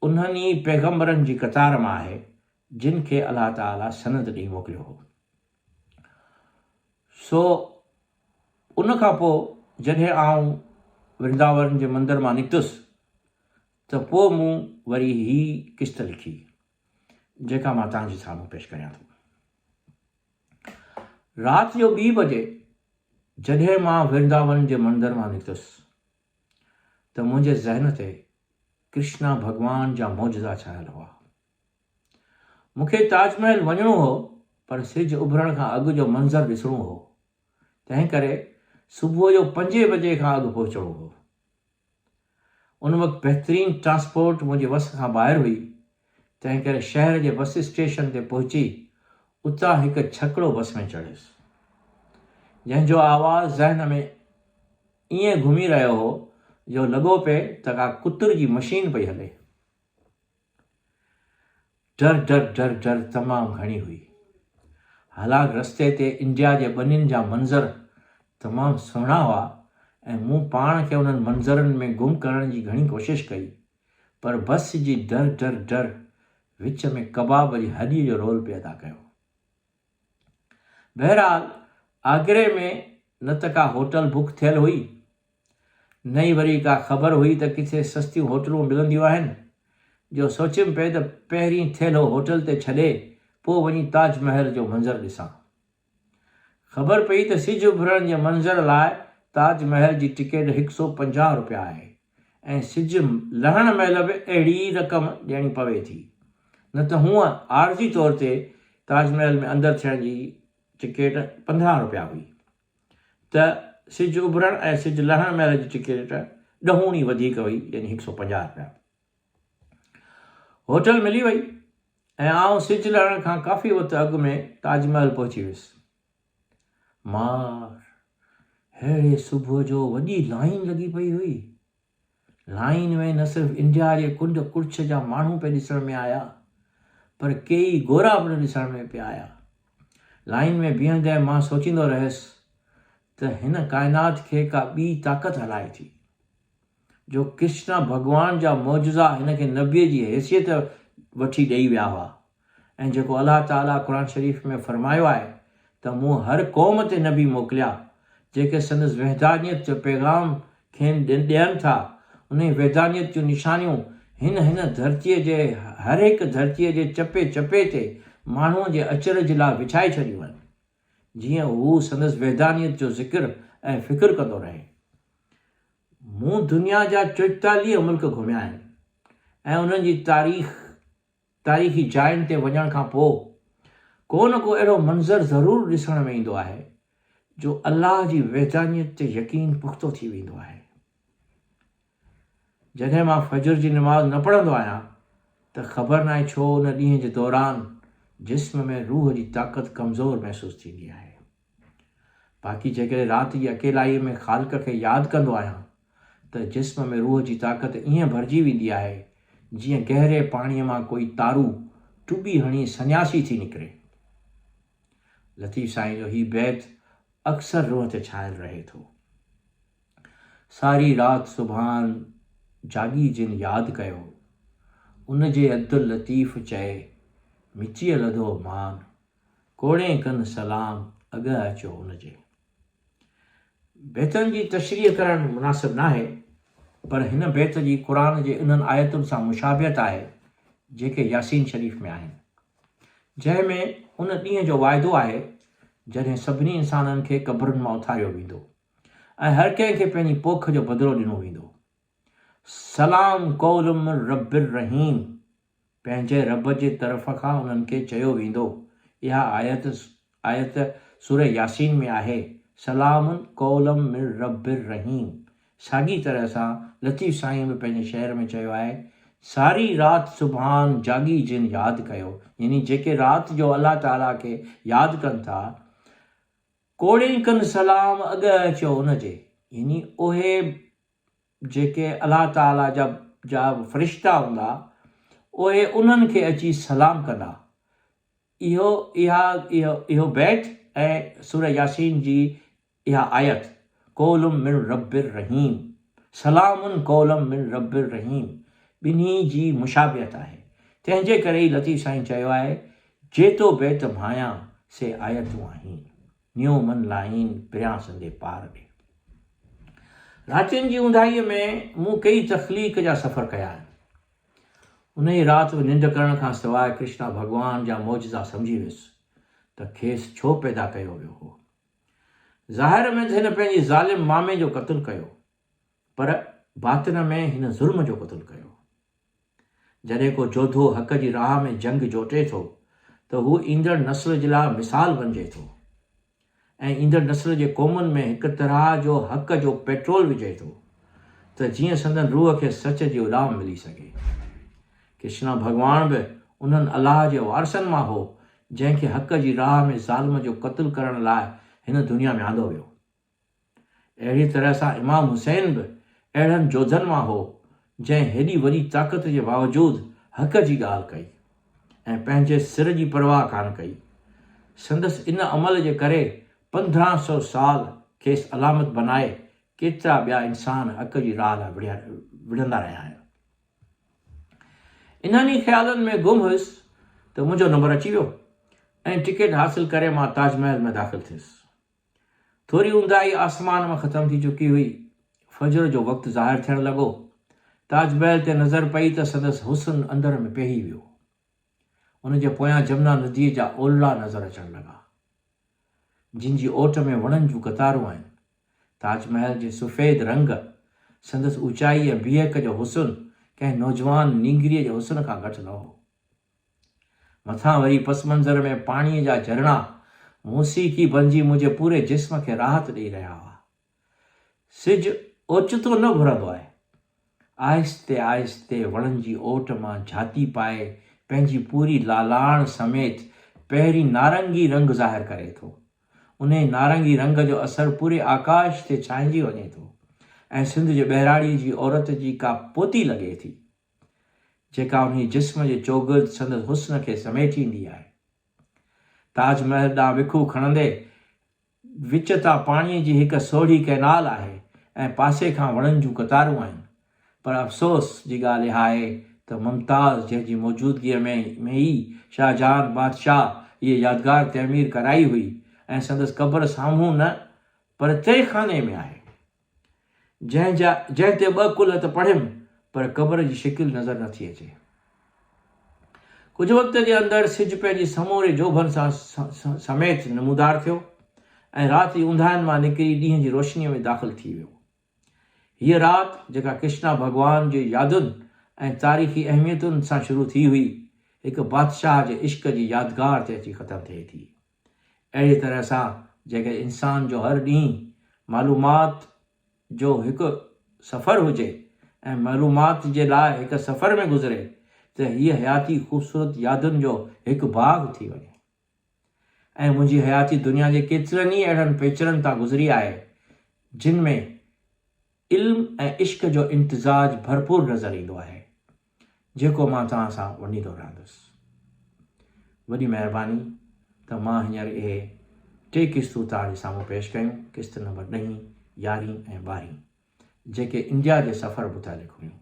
انهن ئي پيغمبرن جي قطار مان آهي جن کي الله تعالي سند ڏئي موڪليو هو. سو ان کان پوء جڏهن آئون ورنداون جي مندر مان نڪتس ته پوء مون وري هي قسط لکي، جيڪا مان توهان جي سامهون پيش ڪريان ٿو. رات جو ٻي بجي جڏهن مان ورنداون جي مندر مان نڪتس. ته منهنجي ذهن تي ڪرشنا ڀڳوان جا معجزا ڇانيل هئا. مون کي تاج محل وڃڻو هو پر سج اڀرڻ کان اڳ جو منظر ڏسڻو هو، تنهن ڪري صبح جو پنجين بجي کان اڳ پهچڻو هو. ان وقت بهترين ٽرانسپورٽ منهنجي وس کان ٻاهر هئي، تنهنڪري شهر جي بس اسٽيشن تي پهچي اتان هڪ ڇڪڙو بس ۾ چڙهيس، جنهن جو آواز ذهن ۾ ائين گهمي رهيو هو جو لڳو پئي ته ڪا ڪتر جي مشين پئي هلي. ڊر ڊر ڊر ڊر تمام گهڻي هئي. حالانڪ رستي تي انڊيا جي ٻنين جا منظر تمام سهڻا هئا ۽ مون پاڻ کي انهن منظرن ۾ گم ڪرڻ جي گهڻي ڪوشش ڪئي، پر بس جي ڊر ڊر ڊر وچ ۾ ڪباب جي هڏي جو رول پئي ادا ڪيو. بهرحال آگري ۾ نه ته ڪا هوٽل بڪ ٿيل هئي نه ئي وري ڪا خبر هئي ته ڪٿي سستيون هوٽلون ملنديون آهن جو سوچيم پئي ته پهرين ٿيلهو هوٽل تي ڇڏي پوء وڃي تاج محل جو منظر ڏسان. خبر پئي ته سج اڀرڻ جي منظر لاء تاج محل جي ٽڪيٽ هڪ سؤ پنجاهه رپيا آهي ۽ سج لهڻ مهل به اهڙي ئي رقم ڏيڻي پوي ٿي نه ته هونء عارضي طور تي تاج محل ۾ اندر ٿيڻ جي ٽڪيٽ پندرهن رپيا هئي ته سج اڀرڻ ۽ سج لهڻ مهل جي ٽڪيٽ ڏهوڻي وڌيڪ هئي يعني هڪ سؤ پنجاهه رپيا. هوٽل ملي وئي. ۽ آئون سج لهڻ کان ڪافي وقت اڳ ۾ تاج محل پهچي ويس. مار، ههڙي صبح جو وڏي لائين لڳي پئي هئي. لائين ۾ نه صرف انڊيا جي ڪنڊ ڪڙڇ جا ماڻهو پئي ڏسڻ ۾ آيا، پر ڪيئي گورا پڻ ڏسڻ ۾ پيا آيا. لائين ۾ بيهندي مان سوچيندو رهيس ته هن ڪائنات کي ڪا ٻي طاقت هلائي ٿي. جو ڪرشنا ڀڳوان جا معجزا هن کي نبيء جي حيثيت وٺي ڏئي ويا هئا ۽ جيڪو الله تعاليٰ قرآن شريف ۾ فرمايو آهي ته مون هر قوم تي نبي موڪليا جيڪي سندس وحدانيت جو پيغام کين ڏين ٿا انهي وحدانيت جون نشانيون هن هن ڌرتيء جي هر هڪ ڌرتيء جي چپي چپي تي ماڻهوء جي اچرج لاء وڇائي ڇڏيون آهن جيئن هو سندس وحدانيت جو ذڪر ۽ فڪر ڪندو رهي مون دنيا جا چوئيتاليهه ملڪ گهميا آهن ۽ انهن جي تاريخ، تاريخي جاين تي وڃڻ کان پوء ڪو نه ڪو اهڙو منظر ضرور ڏسڻ ۾ ايندو آهي جو الله جي وحدانيت تي يقين پختو ٿي ويندو آهي. جڏهن مان فجر جي نماز نه پڙهندو آهيان ته خبر ناهي ڇو ان ڏينهن جي دوران جسم ۾ روح جي طاقت ڪمزور محسوس ٿيندي آهي. باقي جيڪڏهن رات جي اڪيلائيء ۾ خالق کي ياد ڪندو آهيان ته جسم ۾ روح جي طاقت ائين ڀرجي ويندي آهي جيئن گهري پاڻيء مان ڪوئي تارو ٽٻي هڻي سنياسي ٿي نڪري. لطيف سائين جو هي بيت اڪثر روح تي ڇانيل رهي ٿو. ساري رات سبحان جاڳي جن ياد ڪيو، ان جي عبداللطيف چئي مچيء لڌو مان. ڪوڙين ڪن سلام اڳئه اچو ان جي. بيتن جي تشريح ڪرڻ مناسب ناهي پر هن بيت جي قرآن جي انهن آيتن سان مشابهت آهي جيڪي ياسين شريف ۾ آهن جنهن ۾ ان ڏينهن جو واعدو آهي جڏهن سڀني انسانن کي قبرن مان اٿاريو ويندو ۽ هر ڪنهن کي پنهنجي پوک جو بدلو ڏنو ويندو. سلام قول من رب الرحيم پنهنجي رب جي طرف کان انهن کي چيو ويندو. اها آيت آيت سوره ياسين ۾ آهي، سلام قول من رب الرحيم ساڳي طرح سان لطيف سائينء به پنهنجي شعر ۾ چيو آهي، ساري رات سبحان جاڳي جن ياد ڪيو يعني جيڪي رات جو الله تعاليٰ کي ياد ڪن ٿا ڪوڙين ڪن سلام اڳهه اچيو ان جي يعني اهي جيڪي الله تعاليٰ جا جا فرشتا هوندا، اهي انهن کي اچي سلام ڪندا. اهو اها اهو اهو بيت ۽ سوره ياسين جي اها آيت، قول من رب الرحيم، سلام قولا من رب الرحيم، ٻنهي جي مشابهت آهي، تنهن جي ڪري ئي لطيف سائين چيو آهي، جيتو بيت ڀانيان، سي آيتون آهين. نيو من لائين پريان سندي پار ڏي. راتين جي اونداهيء ۾ مون ڪيئي تخليق جا سفر ڪيا آهن. انهيء رات به ننڊ ڪرڻ کان سواء ڪرشنا ڀڳوان جا معجزا سمجهي ويس ته کيس ڇو پيدا ڪيو ويو هو. ظاهر ۾ ته هن پنهنجي ظالم مامي جو قتل ڪيو پر باطن ۾ هن ظلم جو قتل ڪيو. جڏهن ڪو جوڌو حق جي راهه ۾ جنگ جوٽي ٿو ته هو ايندڙ نسل جي لاء مثال بنجي ٿو ۽ ايندڙ نسل جي قومن ۾ هڪ طرح جو حق جو پيٽرول وجهي ٿو ته جيئن سندن روح کي سچ جي اڏام ملي سگهي. ڪرشنا ڀڳواڻ به انهن الله جي وارثن مان هو جنهن کي حق جي راهه ۾ ظالم جو قتل ڪرڻ لاء هن دنيا ۾ آندو ويو. اهڙيء طرح سان امام حسين به اهڙن جوڌن مان هو، جنهن هيڏي وڏي طاقت جي باوجود حق جي ڳالهه ڪئي ۽ پنهنجي سر جي پرواهه ڪانه ڪئي. سندس ان عمل جي ڪري پندرهن سؤ سال کيس علامت بنائي ڪيترا ٻيا انسان حق جي راهه لاء وڙهندا رهيا آهن. انهن ئي خيالن ۾ گم هيس ته منهنجو نمبر اچي ويو ۽ ٽڪيٽ حاصل ڪري مان تاج محل ۾ داخل ٿيس. ٿوري اونداهي آسمان مان ختم ٿي چڪي هئي. فجر جو وقت ظاهر ٿيڻ لڳو. تاج محل تي نظر پئي ته سندس حسن اندر ۾ پيهي ويو. ان جي پويان جمنا نديء جا اولڙا نظر اچڻ لڳا. جن جي اوٽ ۾ وڻن جون قطارون آهن. تاج محل جي سفيد رنگ، سندس اوچائي ۽ بيهڪ جو حسن ڪنهن نوجوان نينگريء جي حسن کان گهٽ نه هو. مٿان وري پس منظر ۾ پاڻيء جا جھرڻا موسيقي بنجي منھنجي پوري جسم کي راحت ڏئي رھيا ھئا. سج اوچتو نه گھرندو آھي. آھستي آھستي وڻن جي اوٽ مان جھاتي پائي پنھنجي پوري لالاڻ سميت پهرين نارنگي رنگ ظاھر ڪري ٿو. انھيء نارنگي رنگ جو اثر پوري آڪاش تي ڇانئجي وڃي ٿو ۽ سنڌ جي ٻهراڙيء جي عورت جي ڪا پوتي لڳي ٿي. جيڪا انهي جسم جي چوگرد سندس حسن کي سميٽي ايندي آهي. تاج محل ڏانهن وکون کڻندي، وچ تان پاڻيء جي هڪ سوڙهي ڪئنال آهي ۽ پاسي کان وڻن جون قطارون آهن، پر افسوس جي ڳالهه اها آهي ته ممتاز جنهن جي موجودگيء ۾ ئي شاهجهان بادشاهه هيء يادگار تعمير ڪرائي هئي ۽ سندس قبر سامهون نه پر تهخاني ۾ آهي. جنهن جا جنهن تي ٻه ڪلهه ته پڙهيم پر قبر جي شڪل نظر نه ٿي اچي. ڪجهه وقت جي اندر سج پنهنجي سموري جوڀن سان سميت نمودار ٿيو ۽ رات جي اونداهين مان نڪري ڏينهن جي روشنيء ۾ داخل ٿي ويو. هيء رات جيڪا ڪرشنا ڀڳوان جي يادن ۽ تاريخي اهميتن سان شروع ٿي هئي، هڪ بادشاهه جي عشق جي يادگار تي اچي ختم ٿئي ٿي. اهڙيء طرح سان جيڪڏهن انسان جو هر ڏينهن معلومات جو هڪ سفر هجي ۽ معلومات جي لاء هڪ سفر ۾ گذري ته هيء حياتي خوبصورت يادن جو هڪ باغ ٿي وڃي ۽ منهنجي حياتي دنيا جي ڪيترن ئي اهڙن پيچرن تان گذري آهي جن ۾ علم ۽ عشق جو امتزاج ڀرپور نظر ايندو آهي جيڪو مان توهان سان ونڊيندو رهندس. وڏي مهرباني ته مان هينئر اهي ٽي قسطون توهان جي سامهون پيش ڪيون، قسط نمبر ڏهين، يارهين ۽ ٻارهين، جيڪي انڊيا جي سفر متعلق هيون.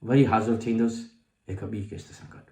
وري حاضر ٿيندس هڪ ٻي قسط سان گڏ.